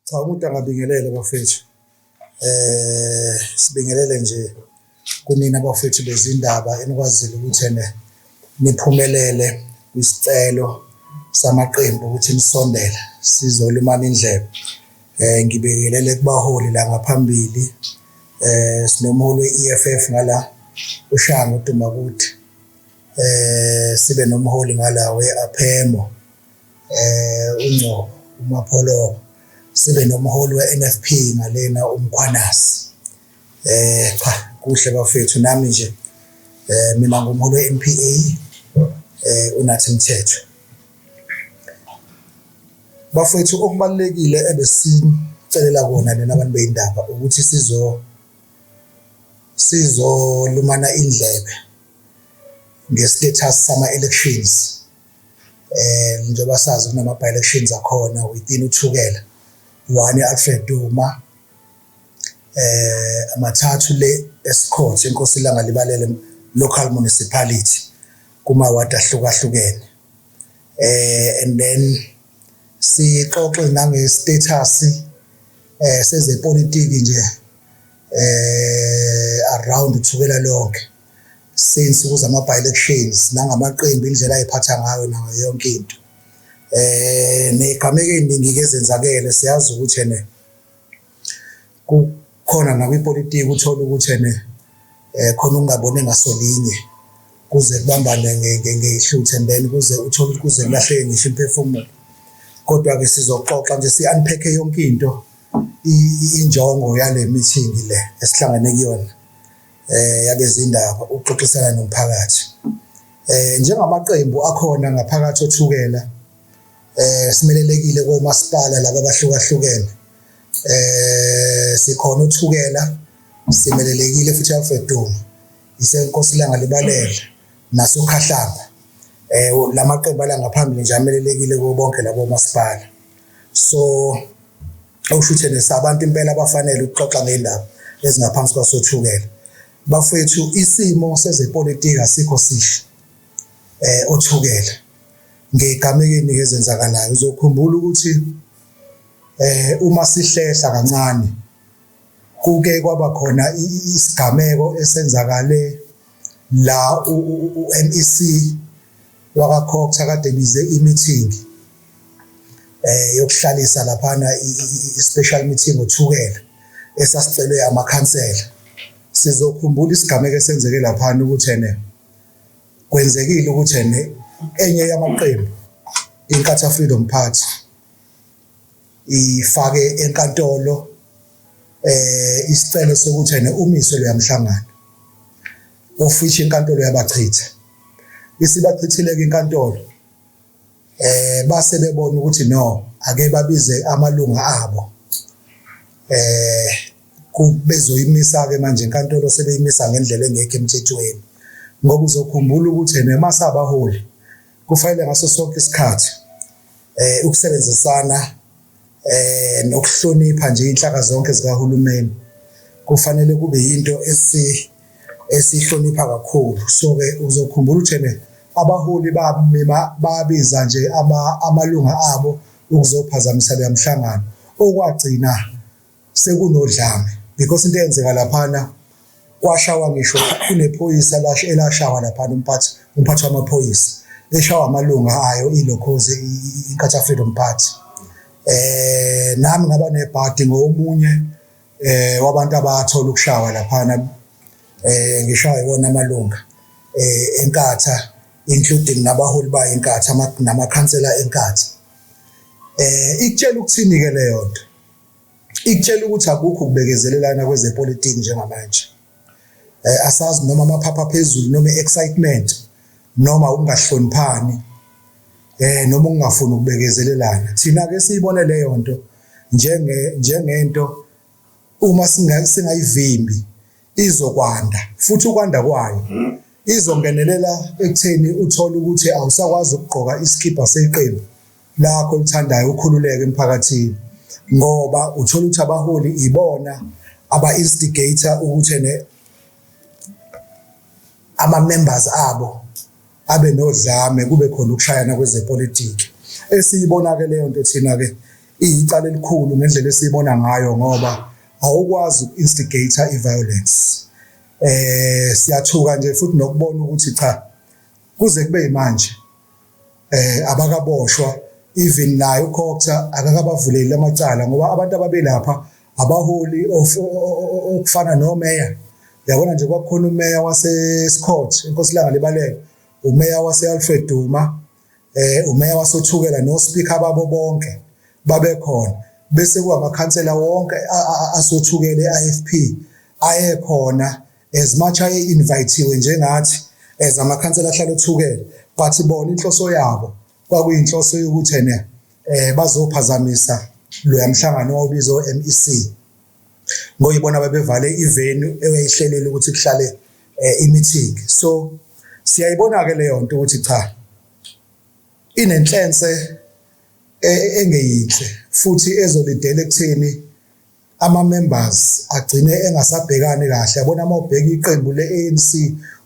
Cha umuntu angabingelele bafethu. Eh sibingelele nje kunina bafethu bezindaba enikwazile ukuthi ene niphumelele kwisicelo samaqembu ukuthi nisondele sizolumana indlebe eh ngibekelele kubaholi la ngaphambili eh sinomholi we-EFF ngala uShango Dumakuthi eh sibe nomholi ngala we-Aphemo eh uNgcobo uMapholo sibe nomholi we-NFP ngalena uMkhwanasi Eh cha kuhle bafethu nami nje eh mina ngumholi weMPA eh unathi mthetho. Bafethu okubalekile ebesicelela kona nina abantu beindaba ukuthi sizo sizolumana indlebe nge-status sama-elections eh njengoba sazi kunama-by-elections akhona within uthukela one i-alfred duma eh amathathu le esikhonze inkosi ilanga libalele local municipality kuma ward ahlukahlukene eh and then sixoxe nange status eh sezepolitiki nje eh around uthukela lonke since kuza ama by elections nangamaqembu indlela ayiphatha ngayo nayo yonke into eh negameke iningi kezenzakele siyazi ukuthi ene Kukhona nakwipolitiki uthole ukuthi ene eh, khona ungabone ngasolinye kuze kubambane ngehluthu and then kuze uthole ukuthi kuze kulahleke ngisho imphefumulo kodwa-ke sizoxoxa nje si-unpack yonke into injongo yale meeting le esihlangane kuyona eh yabezindaba ukuxoxisana nomphakathi eh njengamaqembu akhona ngaphakathi othukela eh simelelekile komasipala laba abahlukahlukene eh sikhona uthukela simelelekile futhi Alfred Duma isenkosi langa libalele nasokhahlamba eh lamaqembu ala ngaphambili nje amelelekile kubo bonke labo masipala so awushuthe nesabantu impela abafanele ukuxoxa ngendaba ezingaphansi kwasothukela bafethu isimo sezepolitiki asikho sihle eh othukela ngegamekeni ngezenzakalayo uzokhumbula ukuthi eh uma sihlehla kancane kuke kwaba khona isigameko esenzakale la uNEC waka Cox akade bize imeeting eh yokuhlalisa laphana i-special meeting othukela esasicelwe amakhansela sizokhumbula isigameko esenzeke laphana ukuthi ene kwenzekile ukuthi ene enye yamaqembu iNkatha Freedom Party ifake enkantolo eh isicelo sokuthi ene umiswe leyamhlangano ofisha inkantolo yabachitha isibachithile ke inkantolo eh base bebona ukuthi no ake babize amalunga abo eh kubezoyimisa ke manje inkantolo sebeyimisa ngendlela engekho emthethweni ngoba uzokhumbula ukuthi nemasabaholi kufanele ngaso sonke isikhathi eh ukusebenzisana eh nokuhlonipha nje inhlaka zonke zikahulumeni kufanele kube yinto esi esihlonipha kakhulu so ke uzokhumbula uthene abaholi bamima babiza nje ama amalunga abo ukuzophazamisa le mhlangano okwagcina sekunodlame because into eyenzeka laphana kwashawa ngisho kunephoyisa lashe elashawa laphana umphathi umphathi wamaphoyisa eshawa amalunga ayo ilokhoze inkatha freedom party eh nami ngaba nebhadi ngomunye eh wabantu abathola ukushawa laphana eh ngishawa iwona amalunga eh enkatha including nabaholi bayo enkatha namakhansela enkatha eh ikutshela ukuthini ke leyo nto ikutshela ukuthi akukho ukubekezelelana kwezepolitiki njengamanje eh, asazi noma amaphapha phezulu noma excitement noma ukungahloniphani eh noma ukungafuni ukubekezelelana thina ke siyibone leyo nto njenge njengento uma singayivimbi izokwanda futhi ukwanda kwayo izongenelela ekutheni uthole ukuthi awusakwazi ukugqoka isikhipha seqembu lakho olithandayo ukhululeke emphakathini ngoba uthola ukuthi abaholi ibona aba instigator ukuthi ne ama members abo abe nodlame kube khona ukushayana kwezepolitiki esiyibona ke leyo nto thina ke iyicala elikhulu ngendlela esiyibona ngayo ngoba awukwazi uku-instigator i-violence eh siyathuka nje futhi nokubona ukuthi cha kuze kube manje eh abakaboshwa even naye uCoxer akakabavuleli amacala ngoba abantu ababelapha abaholi okufana nomeya yabona nje kwakukhona umeya waseScott inkosi langa libaleke umeya waseAlfred Duma eh umeya wasothukela no speaker babo bonke babekhona bese kuwamakhansela wonke asothukele eIFP ayekhona as much aye invitiwe njengathi as amakhansela ahlala othukele but bona inhloso yabo kwakuyinhloso yokuthi ene eh bazophazamisa loya mhlangano wawubizo MEC ngoyibona babevale ivenu eyayihlelele ukuthi kuhlale eh, imeeting so siyayibona ke leyo nto ukuthi cha inenhlense e, engeyinhle futhi ezolidela ekutheni ama-members agcine engasabhekani kahle yabona uma ubheka iqembu le-anc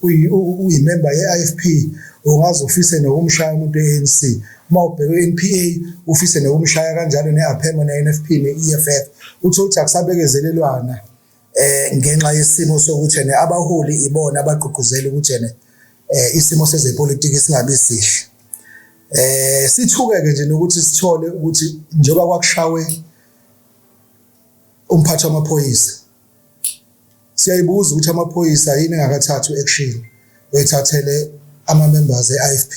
uyimemba ye-ifp ungaze ufise nokumshaya umuntu e-anc uma ubheka u-npa ufise nokumshaya kanjalo ne-apema ne-nfp ne-eff utho ukuthi akusabekezelelwana eh ngenxa yesimo sokuthi ne abaholi ibona abagqugquzela ukuthi ne eh, isimo sezepolitiki singabi sihle eh sithuke ke nje nokuthi sithole ukuthi njengoba kwakushawe umphathi wamaphoyisa siyayibuza ukuthi amaphoyisa yini engakathathi action wethathele ama members eIFP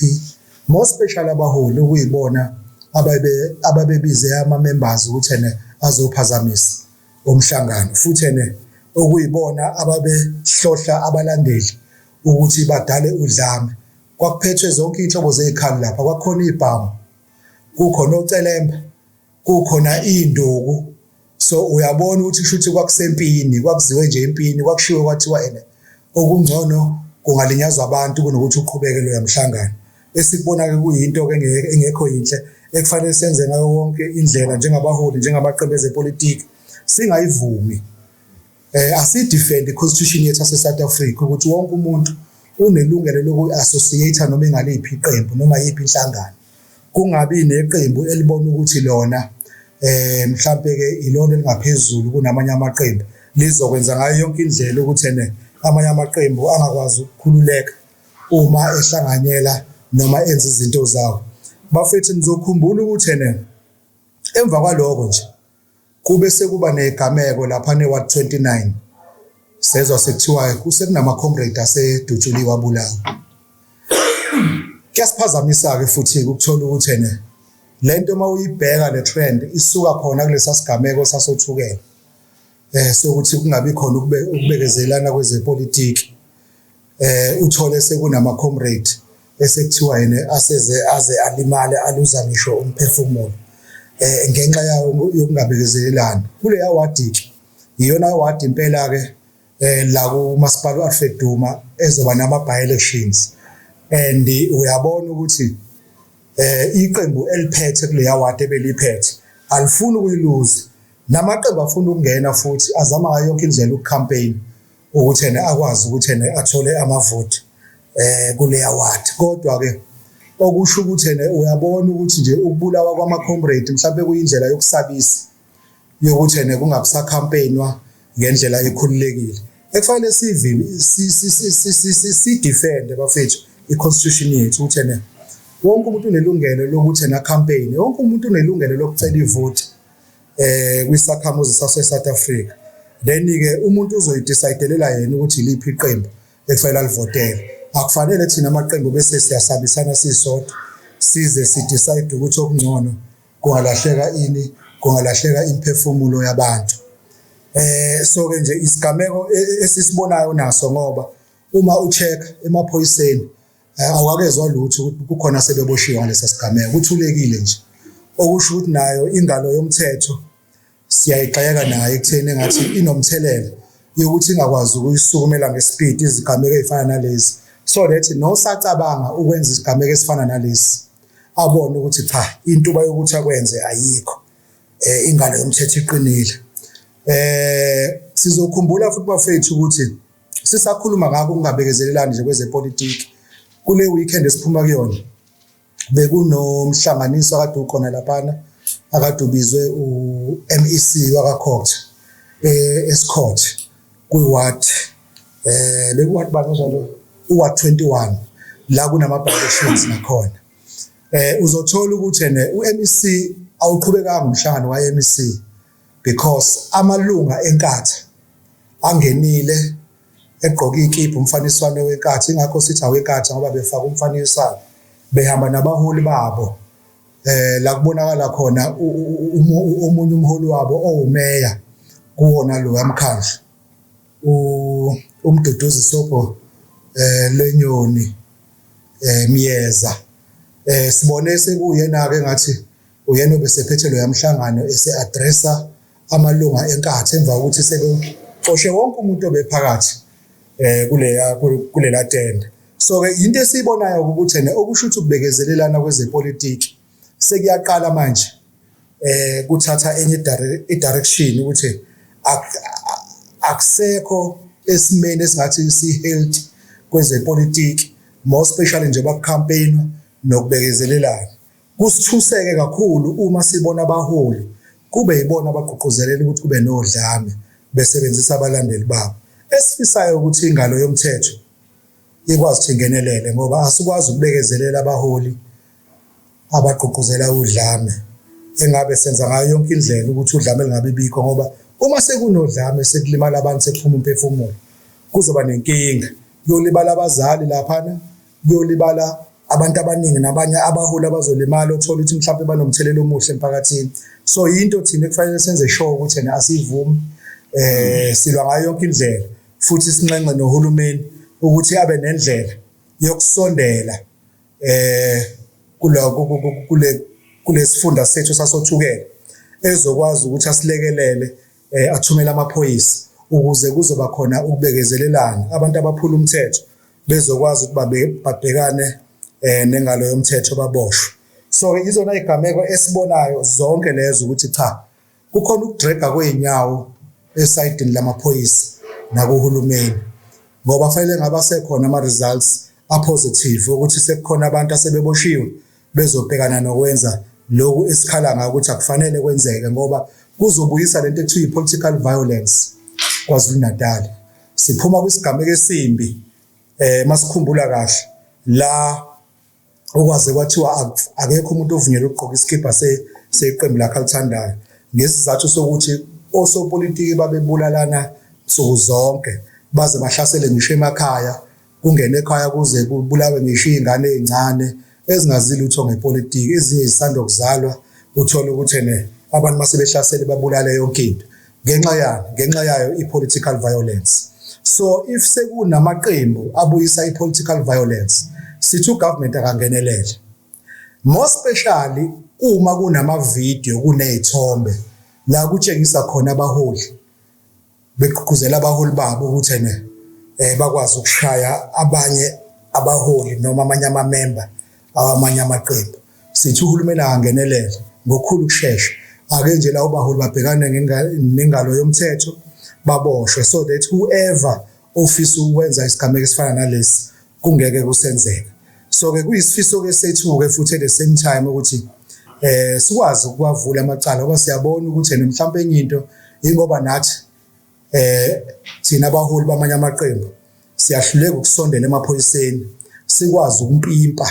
more special abaholi ukuyibona ababe ababebize ama members ukuthi ene azophazamisa umhlangano futhi ene okuyibona ababehlohla abalandeli ukuthi badale udlame kwakuphethwe zonke inhlobo zezikhali lapha kwakhona izibhamu kukhona ocelemba kukhona induku so uyabona ukuthi shuthi kwakusempini kwakuziwe nje impini kwakushiwe kwathiwa ene okungcono kungalinyazwa abantu kunokuthi uqhubeke lo yamhlangano esikubona ke kuyinto ke engekho yinhle ekufanele senze ngayo wonke indlela njengabaholi njengamaqembu ezepolitiki singayivumi eh asidefend iconstitution yethu ase South Africa ukuthi wonke umuntu unelungelo lokuassociate noma engaliphi iqembu noma yiphi inhlangano kungabi neqembu elibona ukuthi lona eh mhlambe ke ilona elingaphezulu kunamanye amaqembu lizokwenza ngayo yonke indlela ukuthi ene amanye amaqembu angakwazi ukukhululeka uma ehlanganyela noma enza izinto zawo bafethu nizokhumbula ukuthi ene emva kwaloko nje Kube sekuba negameko lapha ne-ward 29 sezwa sekuthiwa kusekunama-comrade asedutshuliwe abulawa kuyasiphazamisa-ke futhi ukuthola ukuthi ene le nto uma uyibheka le trend isuka khona kulesa sigameko sasothukela um sokuthi kungabi khona ukubekezelana kwezepolitiki eh uthole sekunama comrade esekuthiwa yena aseze aze alimale aluza ngisho umphefumulo eh ngenxa yawo yokungabekezelelani kuleya wadi iyona wadi impela ke eh la kumasipala uAlfred Duma ezoba nama by elections and uyabona ukuthi eh iqembu eliphethe kuleya wadi ebeliphethe alifuni ukuyiluza namaqembu afuna ukungena futhi azama yonke indlela ukucampaign ukuthi ena akwazi ukuthi ena athole amavoti eh kuleya ward kodwa ke okusho ukuthi ena uyabona ukuthi nje ukubulawa kwama comrade mhlawumbe kuyindlela yokusabisa yokuthi ena kungabisa campaignwa ngendlela ekhululekile ekufanele sivile si defend bafethu i constitution yethu ukuthi ena wonke umuntu unelungelo lokuthi ena campaign wonke umuntu unelungelo lokucela ivoti eh kwisakhamuzi sase South Africa then ke umuntu uzoyidecidelela yena ukuthi liphi iqembu ekufanele alivotele akufanele thina amaqembu bese siyasabisana sisodwa size sidecide ukuthi okungcono kungalahleka ini kungalahleka imphefumulo yabantu eh so ke nje isigameko e, e, esisibonayo naso ngoba uma ucheck emaphoyiseni Eh, awakezwa lutho ukuthi kukhona sebeboshiwe ngalesa sigameko kuthulekile nje okusho ukuthi nayo ingalo yomthetho siyayigxeka nayo ekutheni engathi inomthelela yokuthi ingakwazi ukuyisukumela ngespeed izigameko ezifana nalezi so that nosacabanga ukwenza isigameko esifana nalesi abone ukuthi cha intuba yokuthi akwenze ayikho eh ingalo yomthetho iqinile eh sizokhumbula futhi bafethu ukuthi sisakhuluma ngakho ukungabekezelelani nje kwezepolitiki kule weekend esiphuma kuyona bekunomhlanganiso akade ukhona laphana akade ubizwe u-MEC wakaCourt eh, esiCourt kwi-ward eh bekuward bani njalo u-ward 21 la kunama-violations nakhona eh uzothola ukuthi ne u-MEC awuqhubekanga umhlangano wa-MEC because amalunga enkatha angenile egqoke ikiphu umfaniswane wenkatha ingakho sithi awenkatha ngoba befaka umfaniswane behamba nabaholi babo eh la kubonakala khona omunye umholi wabo owumeya kuwona lo yamkhandla umduduzi sopo eh lenyoni eh miyeza eh sibone sekuyena ke ngathi Uyena obesephethe loya mhlangano ese-adresa amalunga eNkatha emva kokuthi sebexoshe wonke umuntu obephakathi um kuleya kulela tende so-ke yinto esiyibonayo ukuthi ene okusho ukuthi ukubekezelelana kwezepolitiki sekuyaqala manje um kuthatha enye i-direction ukuthi akusekho esimeni esingathi si-healthy kwezepolitiki more especially njengoba kucampaign nokubekezelelana Kusithuseke kakhulu uma sibona abaholi kube yibona abagqugquzelela ukuthi kube nodlame besebenzisa abalandeli babo. Esifisayo ukuthi ingalo yomthetho ikwazi ukuthi ingenelele ngoba asikwazi ukubekezelela abaholi abagqugquzela udlame engabe senza ngayo yonke indlela ukuthi udlame lingabi bikho ngoba uma sekunodlame sekulimala abantu sekuphuma umphefumulo kuzoba nenkinga yolibala abazali laphana kuyolibala abantu abaningi nabanye abaholi abazolimala othola ukuthi mhlawumbe banomthelela omuhle emphakathini so yinto thina ekufanele senze sure ukuthi yena asivumi eh silwa ngayo yonke indlela futhi sinxenxe nohulumeni ukuthi abe nendlela yokusondela eh kuloko kule kulesifunda sethu sasothukela ezokwazi ukuthi asilekelele eh, athumele amaphoyisa ukuze kuzoba khona ukubekezelelana abantu abaphula umthetho bezokwazi ukuba babhekane eh, nengalo yomthetho baboshwe so ke izona igameko esibonayo zonke lezo ukuthi cha kukhona ukudraga kweinyawo esayidini lamaphoyisa nakuhulumeni ngoba fanele ngabasekhona ama results a positive ukuthi sekukhona abantu asebeboshiwe bezobhekana nokwenza lokhu esikhala ngakho ukuthi akufanele kwenzeke ngoba kuzobuyisa lento ekuthiwa i-political violence KwaZulu-Natal siphuma kwisigameko esimbi eh masikhumbula kahle la okwaze kwathiwa akekho umuntu ovunyelwe ukugqoka isikibha seqembu lakhe alithandayo ngesizathu sokuthi osopolitiki babebulalana nsuku zonke baze bahlasele ngisho emakhaya kungene ekhaya kuze kubulawe ngisho iy'ngane ey'ncane ezingazi lutho ngepolitiki ezinye zisanda kuzalwa uthole ukuthi ene abantu uma sebehlasele babulale yonke into ngenxa yani ngenxa yayo i-political violence so if sekunamaqembu abuyisa i-political violence sithi ugovernment akangenelele more specially uma kunamavidiyo kuney'thombe la kutshengisa khona abaholi begqugquzela abaholi babo ukuthi ene eh bakwazi ukushaya abanye abaholi noma amanye amamemba awamanye amaqembu sithi uhulumeni angenelele ngokukhulu ukushesha ake nje lawo baholi babhekane nengalo yomthetho baboshwe so that whoever ofisa ukwenza isigameko esifana nalesi kungeke kusenzeka so ke kuyisifiso ke sethu ke futhi at the same time ukuthi eh sikwazi ukuwavula amacala ngoba siyabona ukuthi ene mhlawumbe enye into ingoba nathi eh thina abaholi bamanye amaqembu siyahluleka ukusondela emaphoyiseni sikwazi ukumpimpa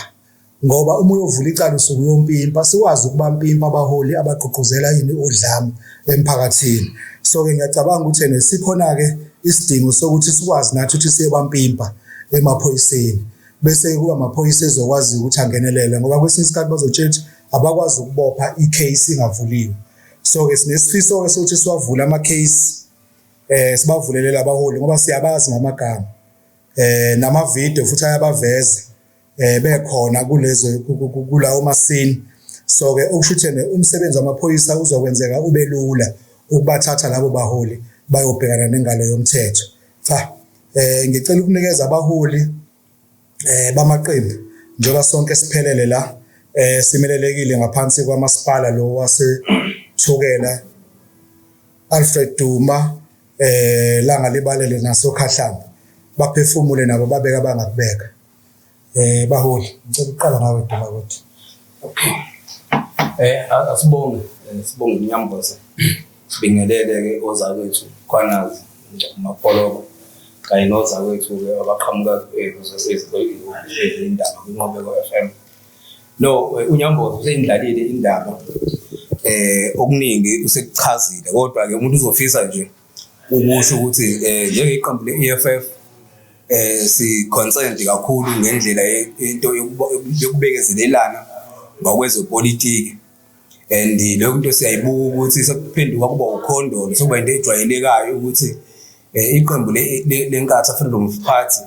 ngoba uma uyovula icala usuke uyompimpa sikwazi ukuba mpimpa abaholi abagqugquzela yini udlame emphakathini so-ke ngiyacabanga ukuthi ene sikhona-ke isidingo sokuthi sikwazi nathi ukuthi siyebampimpa emaphoyiseni bese kuba amaphoyisa ezokwazi ukuthi angenelele ngoba kwesinye isikhathi bazotshela ukuthi abakwazi ukubopha i-case ingavuliwe so-ke sinesifiso-ke sokuthi siwavule ama-case um sibavulelele abaholi ngoba siyabazi ngamagama um namavidiyo futhi ayabaveza eh bekhona kulezi kulawo masini so ke okushuthene umsebenzi wamaphoyisa uzokwenzeka ubelula ukubathatha labo baholi bayobhekana nengalo yomthetho cha eh ngicela ukunikeza abaholi eh bamaqembu njengoba sonke siphelele la eh simelelekile ngaphansi kwamasipala lo wase Thukela Alfred Duma eh langa libalele naso Khahlamba baphefumule nabo babeka bangakubeka Eh baholi, ngicela uqala ngawe Duma ukuthi. Okay. Eh asibonge, eh, sibonge inyamboza. Sibingelele ke ozakwethu kwanazi mapholoba kanye nozakwethu ke abaqhamuka eh, kuzesizindaba kwinqobeko FM. No, eh, unyamboza useyindlalile indaba eh okuningi usekuchazile kodwa ke umuntu uzofisa nje ukusho ukuthi um njengeqembu le-e f f eh si-concerned kakhulu ngendlela into yokubekezelelana ngokwezepolitiki and leyo nto siyayibuka ukuthi sekuphenduka kuba ukhondolo sekuba into ejwayelekayo ukuthi eh, iqembu lenkatha freedom of party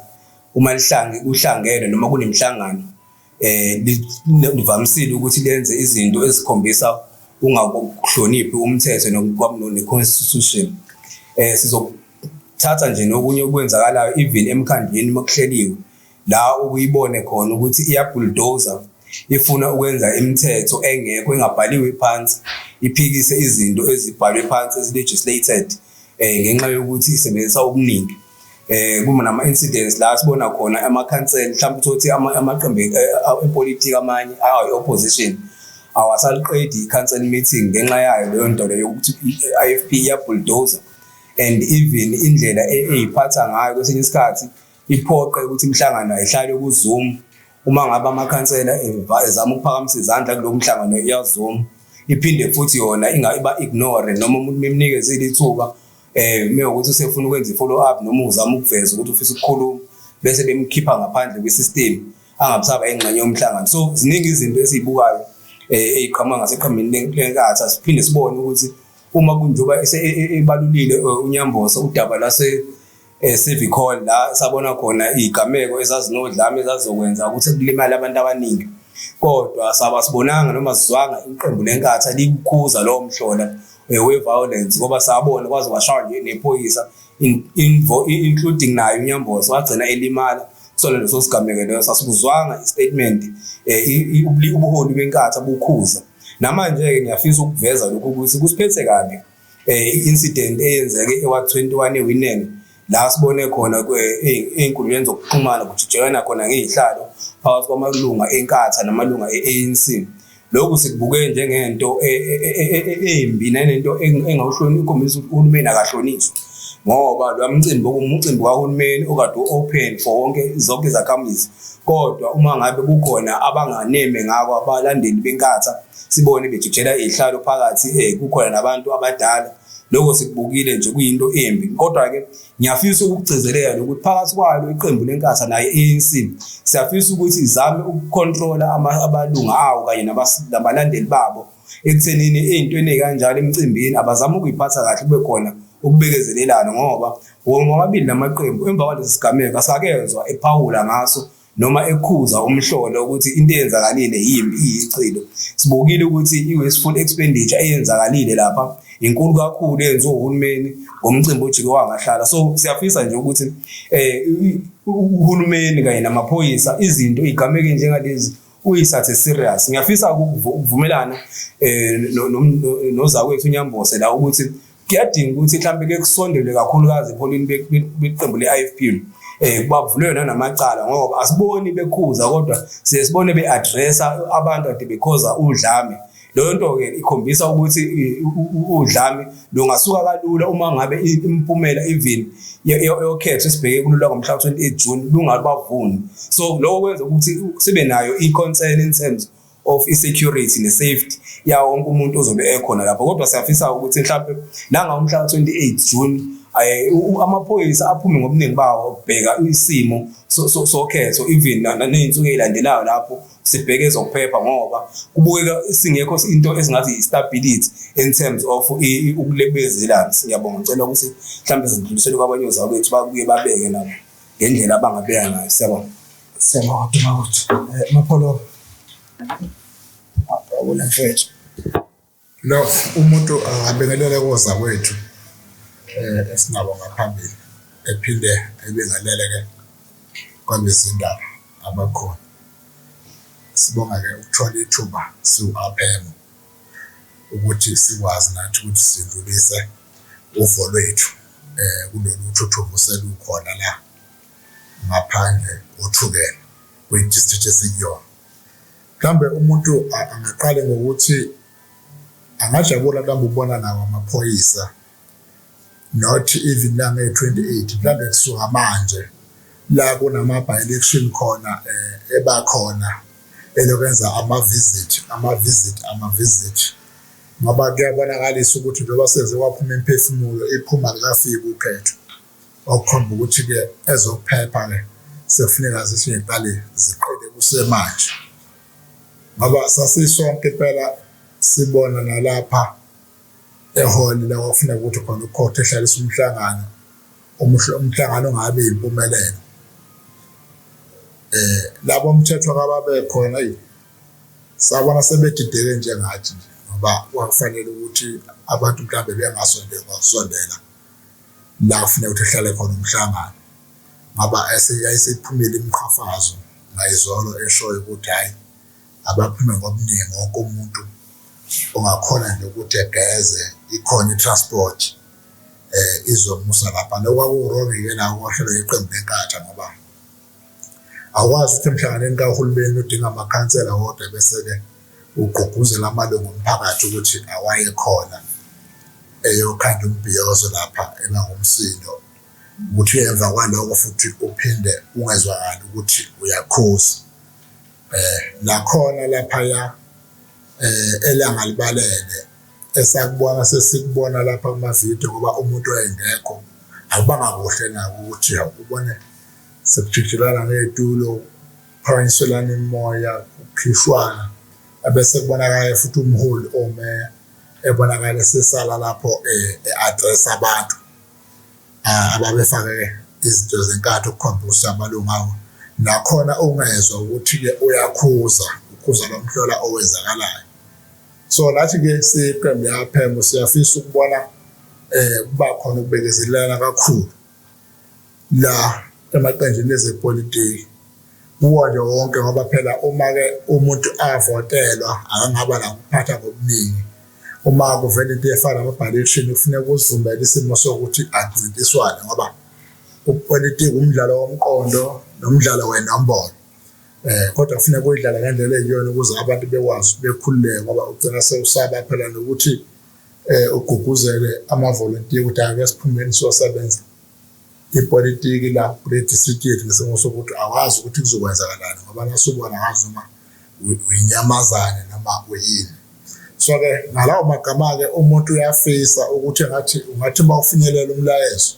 uma lihlange kuhlangene noma kunemihlangano um livamisile ukuthi lenze izinto ezikhombisa ungakuhloniphi umthetho ne-constitution um sizothatha nje nokunye okwenzakalayo even emkhandlwini uma kuhleliwe la ukuyibone khona ukuthi iyabhuldoza ifuna ukwenza imithetho engekho engabhaliwe phansi iphikise izinto ezibhalwe phansi ezi-legislated um ngenxa yokuthi isebenzisa okuningi eh kuma nama incidents la sibona khona amakhansela mhlawumbe uthothi amaqembu eh, eh, epolitiki amanye ayi opposition awasaliqedi i-council meeting ngenxa yayo leyo nto leyo ukuthi i-IFP iyabulldozer and even indlela e-, eyiphatha ngayo kwesinye isikhathi iphoqe ukuthi imihlangano ayihlale kuZoom uma ngabe amakhansela ezama ukuphakamisa izandla kulo mhlangano iyaZoom iphinde futhi yona ingayiba ignore noma umuntu memnikeze ilithuba eh uma ukuthi usefuna ukwenza i-follow up noma uzama ukuveza ukuthi ufisa ukukhuluma bese bemkhipha ngaphandle kwi-system angabusaba engxenye yomhlangano so ziningi izinto esizibukayo eh eziqhamuka ngaseqhambini lenkathi asiphinde sibone ukuthi uma kunjoba e, e, ebalulile eh, unyambosa udaba lase eh, civic hall la sabona khona igameko ezazinodlame ezazokwenza ukuthi kulimale abantu abaningi kodwa saba sibonanga noma sizwanga iqembu lenkathi likukhuza lowo mhlola eh, we-violence ngoba sabona kwaze kwashaywa nje nephoyisa including naye unyamboso wagcina elimala kusona leso sigameko leyo sasikuzwanga istatement eh, ubuholi benkatha bukhuza namanje-ke ngiyafisa ukuveza lokhu ukuthi kusiphethe kabi um incident eyenzeke ewa-21 ewinene la sibone khona ey'nkundleni zokuxhumana kujijelana khona ngey'hlalo phakathi kwamalunga enkatha namalunga e-anc lokhu sikubuke njengento e, e, e, embi nanento engawuhloniphi ikhombisa ukuthi uhulumeni akahlonizwa ngoba lo mcimbi okumcimbi kahulumeni okade u-open for wonke zonke izakhamizi kodwa uma ngabe kukhona abanganeme ngako abalandeli benkatha sibone bejijela iy'hlalo phakathi um kukhona nabantu abadala lokho sikubukile nje kuyinto embi kodwa-ke ngiyafisa ukugcizelela nokuthi phakathi kwalo iqembu lenkatha naye i-anc siyafisa ukuthi izame ukukhontrola abalunga awo kanye nabalandeli babo ekuthenini ey'ntweni ey'kanjalo emcimbini abazame ukuyiphatha kahle kube khona ukubekezelelana ngoba womabili namaqembu emva kwalesi sigameko asakezwa ephawula ngaso noma ekhuza umhlolo ukuthi into eyenzakalile yimbi iyichilo sibukile ukuthi i-wasteful expenditure eyenzakalile lapha inkulu kakhulu eyenziwa uhulumeni ngomcimbi ojike wangahlala so siyafisa nje ukuthi um uhulumeni kanye namaphoyisa izinto igameke njengalezi uyisathe serious ngiyafisa ukuvumelana um nozakwethu unyambose la ukuthi kuyadinga ukuthi mhlawumbe ke kusondelwe kakhulukazi epholini beqembu le-IFP eh kubavulwe yona namacala ngoba asiboni bekhuza kodwa siye sibone beaddressa abantu ade bekhoza udlame leyo nto ke ikhombisa ukuthi udlame lungasuka kalula uma ngabe impumela even yokhetho esibheke kulula ngomhla ka-28 June lungabavuni so lokho kwenza ukuthi sibe nayo i-concern in terms of insecurity ne-safety yawo wonke umuntu ozobe ekhona lapho kodwa siyafisa ukuthi mhlawumpe nangawo umhla ka-28 june um amaphoyisa aphume ngobuningi bawo ukubheka isimo sokhetho even ney'nsuku ey'landelayo lapho sibheke ezokuphepha ngoba kubukeka singekho into esingathi i-stability in terms of ukulebezelana ngiyabonga ngicela ukuthi mhlawumbe zidlulisele kwabanye ozakwethu babuye babeke nabo ngendlela abangabeka ngayo siyabona Siyabonga Duma ukuthi eh, Mapholo. Awula mfethu. Lo umuntu angabengelela koza kwethu eh esinabo ngaphambili ephinde ebengalele ke kwabezindaba abakhona. Sibonga ke ukuthola ithuba siwu-aphemo ukuthi sikwazi nathi ukuthi sidlulise uvo lwethu eh kulolu thuthuva oselukhona la ngaphandle uthukela kwi district esikuyona. Mhlambe umuntu angaqale ngokuthi angajabula mhlawumbe ukubona nawo amaphoyisa not even la nge 28 mhlambe kusuka manje la kunama by election khona eh, ebakhona elokwenza ama visit ama visit ama visit ngoba kuyabonakalisa ukuthi njengoba senze kwaphuma imphefumulo iphuma likafiki ukhetho okukhomba ukuthi-ke ezokuphepha-ke sekufuneka zisingaqali ziqede kusemanje ngoba sasisonke impela sibona nalapha ehholi la kwakufuneka ukuthi khona ukhotha ehlalisa umhlangano umhlangano ongabe yimpumelelo eh labo mthetho kababe khona sabona sebedideke njengathi nje ngoba kwakufanele ukuthi abantu mhlawumbe bengasondela la kufuneka ukuthi ehlale khona umhlangano ngoba yayisephumile imiqhafazo ngayizolo eshoyo ukuthi hhayi abaphume ngobuningi wonke umuntu ongakhona nje ukuthi egeze ikhona i-transport um izomusa lapha nokwakuwurongike nawo kwahlelwe iqembu lenkatha ngoba Akwazi ukuthi emhlanganweni kahulumeni udinga amakhansela wodwa bese-ke ugqugquzela amalungu omphakathi ukuthi awaye khona eyokhanda umbhiyozo lapha engangumsindo ukuthi emva kwaloko futhi uphinde ungezwakali ukuthi uyakhuza um nakhona laphaya um elangalibalele esakubona sesikubona lapha kumavidiyo ngoba umuntu wayengekho akubanga kuhle nako ukuthi ubone sekujijelana ngey'tulo kuphakanyiselana imimoya kukhishwana abese kubonakala futhi umholi omeya ebonakala esesala lapho um e-address abantu ah, ababefake izinto zenkatho ukukhombisa ukuthi amalungu awo nakhona ungezwa ukuthi-ke uyakhuza ukhuza lomhlola owenzakalayo so nathi ke siqembu yaphembo siyafisa ukubona eh kuba khona ukubekezelelana kakhulu la emaqenjini ezepolitiki kuwo nje wonke ngoba phela uma ke umuntu avotelwa akangaba la kuphatha ngobuningi uma kuvela into efana nama-ballection kufuneka uzumele isimo sokuthi ancintiswane ngoba upolitiki umdlalo womqondo nomdlalo wenombolo eh kodwa kufuneka uyidlala ngendlela eyiyona ukuze abantu bekwazi bekhululeke ngoba ugcina sewusaba phela nokuthi eh uguguzele amavolontiya ukuthi ake siphumeni siyosebenza ipolitiki la kule district yethu ngesimo sokuthi awazi ukuthi kuzokwenzakalani ngoba nasubona ngazi uma uyinyamazane noma uyini so ke ngalawo magama ke umuntu uyafisa ukuthi ngathi ungathi uma ufinyelela umlayezo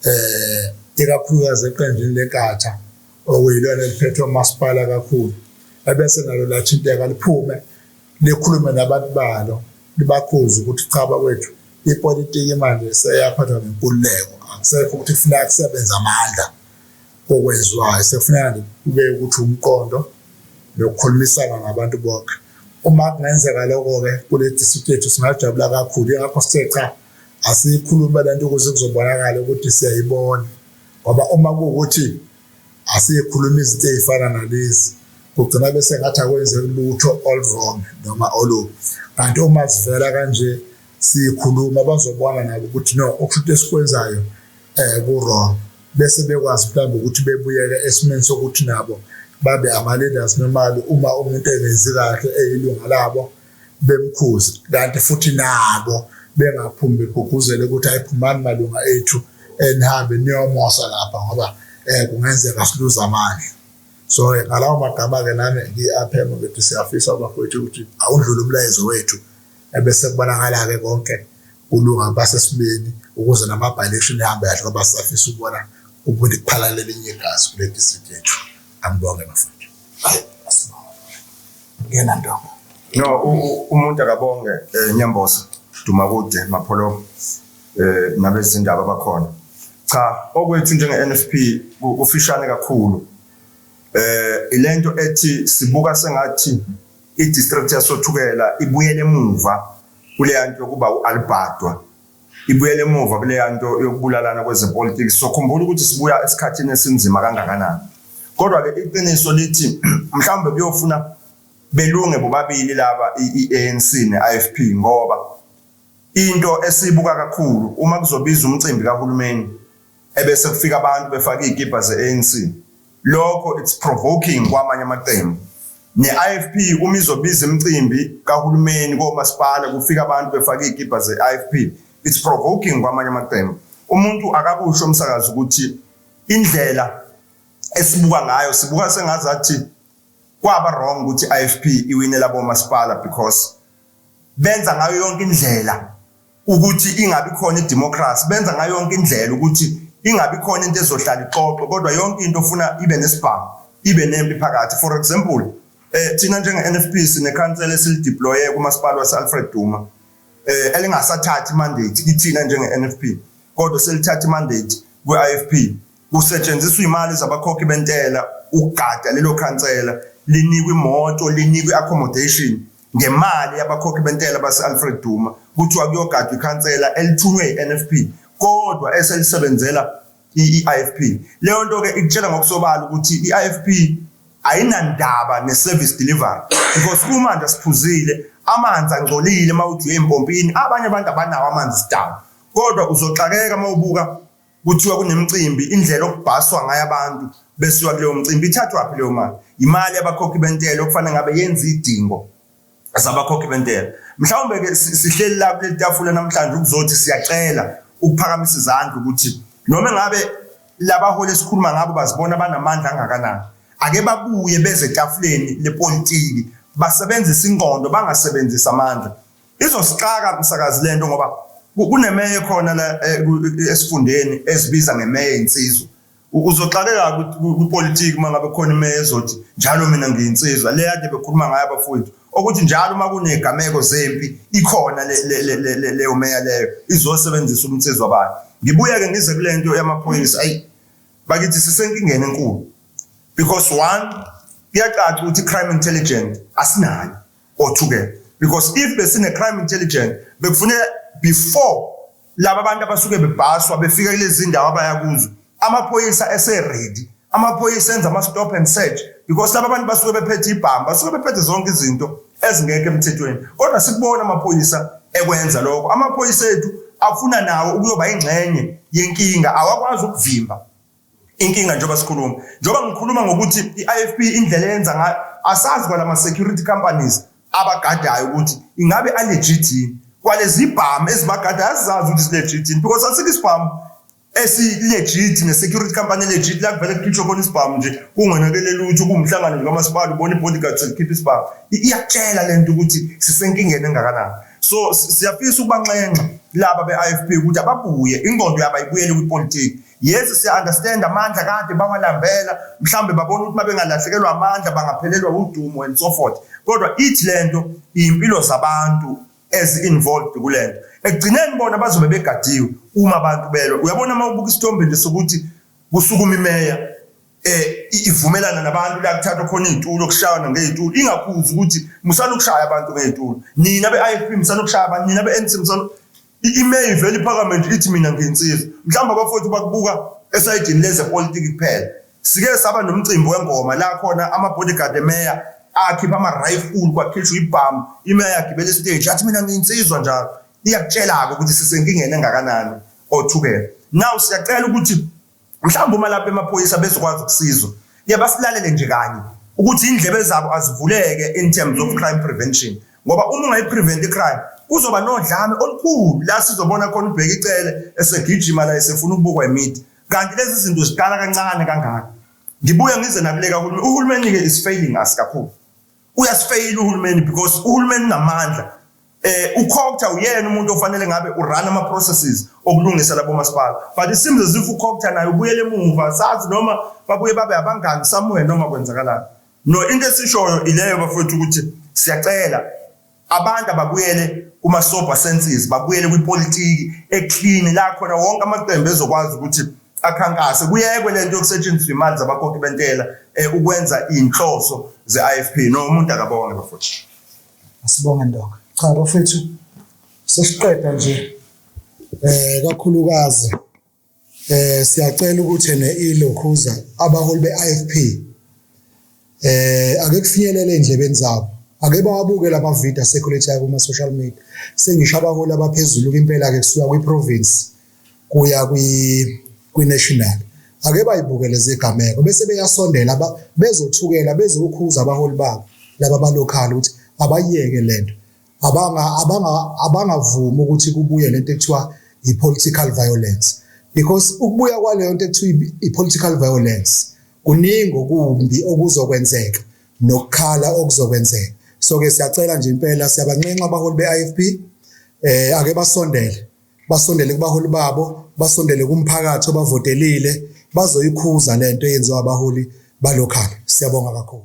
eh ikakhulukazi eqenjini lenkatha okuyilona eliphethwe umasipala kakhulu ebese nalo lathinteka liphume likhulume nabantu balo libakhuze ukuthi cha bakwethu ipolitiki manje seyaphathwa ngenkululeko akusekho ukuthi kufuneka kusebenza amandla kokwenziwayo sekufuneka kube ukuthi umqondo nokukhulumisana ngabantu bonke uma kungenzeka lokho-ke kule district yethu singajabula kakhulu ingakho sithe cha asiyikhulume le nto ukuze kuzobonakala ukuthi siyayibona ngoba uma kuwukuthi asiyekhuluma izinto ezifana nalezi kugcina bese ngathi akwenze lutho all wrong noma olu kanti uma sivela kanje sikhuluma bazobona nabo ukuthi no okushuthi esikwenzayo eh ku wrong bese bekwazi mhlawumbe ukuthi bebuyeke esimeni sokuthi nabo babe ama-leaders normally uma umuntu engenzi kahle eyilunga labo bemkhuza kanti futhi nabo bengaphumi beguguzele ukuthi ayiphumani malunga ethu enihambe niyomosa lapha ngoba um kungenzeka siluze amandla so ngalawo magama-ke nami ngiyi-aphema ukuthi siyafisa bakwethu ukuthi awundlule umlayezo wethu ebese kubonakala-ke konke kulunga basesimeni ukuze namabhaleshini ehambe kahle ngoba sisafisa ukubona ubundi kuphalalela elinye igazi kule disithi yethu angibonge bafana ngena ntombo no umuntu akabonge eh, nyambosa duma kude mapholo eh nabezindaba bakhona cha okwethu njenge NFP kufishane kakhulu eh ilento ethi sibuka sengathi i-district yasothukela ibuyele emuva kuleya nto yokuba u-albhadwa ibuyela emuva kuleya nto yokubulalana kwezepolitiki sizokhumbula ukuthi sibuya esikhathini esinzima kangakanani kodwa-ke iqiniso lithi mhlawumbe kuyofuna belunge bobabili laba i-anc ne-ifp ngoba into esiyibuka kakhulu uma kuzobiza umcimbi kahulumeni ebese kufika abantu befaka izikibha zeANC lokho it's provoking kwamanye amaqembu ne-IFP uma izobiza imicimbi kahulumeni komasipala kufika abantu befaka izikibha ze-IFP it's provoking kwamanye amaqembu umuntu akakusho umsakazi ukuthi indlela esibuka ngayo sibuka sengazathi kwaba wrong ukuthi IFP iwinela bomasipala because benza ngayo yonke indlela ukuthi ingabi khona idemocracy benza ngayo yonke indlela ukuthi ingabi khona into ezohlala ixoxo kodwa yonke into ofuna ibe nesibhamu ibe nempi phakathi for example eh thina njenge-NFP sinekhansela esilideploye kumasipala wase-Alfred Duma eh elingasathathi mandate kithina njenge-NFP kodwa selithatha mandate kwi-IFP kusetshenziswa imali zabakhokhi bentela ukugada lelo khansela linikwe imoto linikwe accommodation ngemali yabakhokhi bentela base-alfred duma kuthiwa kuyogadwa ikhansela elithunywe yi-nfp kodwa eselisebenzela i-ifp leyo nto-ke ikutshela ngokusobala ukuthi i-ifp ayinandaba ne-service delivery because kumanje siphuzile amanzi angcolile uma uthi uye empompini abanye abantu abanawo amanzi sidaba kodwa uzoxakeka uma ubuka kuthiwa kunemicimbi indlela okubhaswa ngayo abantu besuka kuleyo mcimbi ithathwaphi leyo mali imali yabakhokhi bentela okufanele ngabe yenza idingo zabakhokhi bentela mhlawumbe ke sihleli la kuleli tafula namhlanje ukuzothi siyacela ukuphakamisa izandla ukuthi noma ngabe labaholi esikhuluma ngabo bazibona banamandla angakanani ake babuye beze etafuleni lepolitiki basebenzise ingqondo bangasebenzisi amandla Izosixaka msakazi lento ngoba kunemeya ekhona la eh, eh, esifundeni esibiza ngemeya insizwa. Uzoxakeka kupolitiki uma ngabe khona imeya ezothi njalo mina ngiyinsizwa le yade bekhuluma ngayo abafowethu okuthi njalo uma kunegameko zempi ikhona leyo meya leyo izosebenzisa umnsizwa bayo. Ngibuye ke ngize kule nto yamaphoyisa ayi bakithi sisenkingeni enkulu because one kuyacaca ukuthi crime intelligent asinayo othukela because if besine crime intelligence bekufuneka before laba bantu abasuke bebhaswa befika kulezi ndawo abaya kuzo amaphoyisa eseready amaphoyisa enza ama-stop and search because laba bantu basuke bephethe ibhamu basuke bephethe zonke izinto ezingekho emthethweni kodwa sikubona amaphoyisa ekwenza lokho amaphoyisa ethu afuna nawo ukuyoba ingxenye yenkinga awakwazi ukuvimba Inkinga njengoba sikhuluma, njengoba ngikhuluma ngokuthi i-IFP indlela eyenza ngayo, asazi kwalama security companies abagadayo ukuthi ingabe alegit yini. Kwalezi bhamu ezibagadayo azizazi ukuthi zilegit yini because asikho isibhamu esilegit ne-security company legit la kuvele kukhishwe khona isibhamu nje kungonakele lutho kuwumhlangano nje kamasipala ubona i-bodyguard selikhipha isibhamu iyakutshela le nto ukuthi sisenkingeni engakanani so siyafisa ukubanxenxa laba be-i f p ukuthi ababuye ingqondo yabo ayibuyele kwipolitiki Yesu siya understand amandla kade bawalambela mhlambe babona ukuthi mabengalahlekelwa amandla bangaphelelwa udumo and so forth kodwa ithi lento impilo zabantu as involved kulento ekugcineni bona bazobe begadiwe uma abantu belwa uyabona uma ubuka isithombe nje sokuthi kusukuma imeya eh ivumelana nabantu la kuthathwa khona izitulo kushayana ngezitulo ingakhuzi ukuthi musana ukushaya abantu ngezitulo nina beIFP musana ukushaya abantu nina beNC musana I-email ivele iphakame nje ithi mina ngiyinsizwa. Mhlawumbe abafowethu bakubuka esayidini lezepolitiki kuphela. Sike saba nomcimbi wengoma la khona ama-bodyguard emeya akhipha ama-rifle kwakhishwa ibhamu, imeya yagibela isiteji yathi mina ngiyinsizwa njalo. Iyakutshela-ke ukuthi sisenkingeni engakanani othukela. Now siyacela ukuthi Mhlawumbe uma lapha emaphoyisa bezokwazi ukusizwa ke basilalele nje kanye ukuthi indlebe zabo azivuleke in terms of crime prevention ngoba uma ungayiprevent icrime kuzoba nodlame olukhulu la sizobona khona ubheka icele esegijima la esefuna ukubukwa imidi kanti lezi zinto ziqala kancane kangaka ngibuye ngize nakuleka uhulumeni uhulumeni-ke is failing us kakhulu uyasifeyila uhulumeni because uhulumeni unamandla eh uCocta uyena umuntu ofanele ngabe urun ama processes okulungisa labo masipala but it seems as if uCocta naye ubuyele emuva sazi noma babuye babe abangani somewhere noma kwenzakalani no into esishoyo ileyo bafowethu ukuthi siyacela Abantu ababuyele kuma-sober senses, babuyele kwipolitiki eclean la khona wonke amaqembu ezokwazi ukuthi akhankase kuyekwe lento yokusetshenziswa imali zabakhokhi bentela eh, ukwenza inhloso ze-IFP no umuntu akabonge bafowethu asibonge ndoka cha bafowethu sesiqeda nje eh kakhulukazi Eh siyacela ukuthi ne ilokhuza abaholi beIFP eh ake kufinyelele endlebeni zabo. Ake bawabuke lama video circulate kuma social media. Sengisho abaholi abaphezulu impela ke kusuka kwi province kuya kwi kwi national. Ake bayibukele zegameko bese beyasondela bezothukela bezokhuza abaholi babo laba balokhali ukuthi abayeke lento abanga abanga abangavumi ukuthi kubuye lento ekuthiwa i-political violence because ukubuya kwaleyo nto ekuthiwa i-political violence kuningi okumbi okuzokwenzeka nokukhala okuzokwenzeka so ke siyacela nje impela siyabanxenxa abaholi be-IFP eh ake basondele basondele kubaholi babo basondele kumphakathi obavotelile bazoyikhuza lento eyenziwa abaholi balokhala siyabonga kakhulu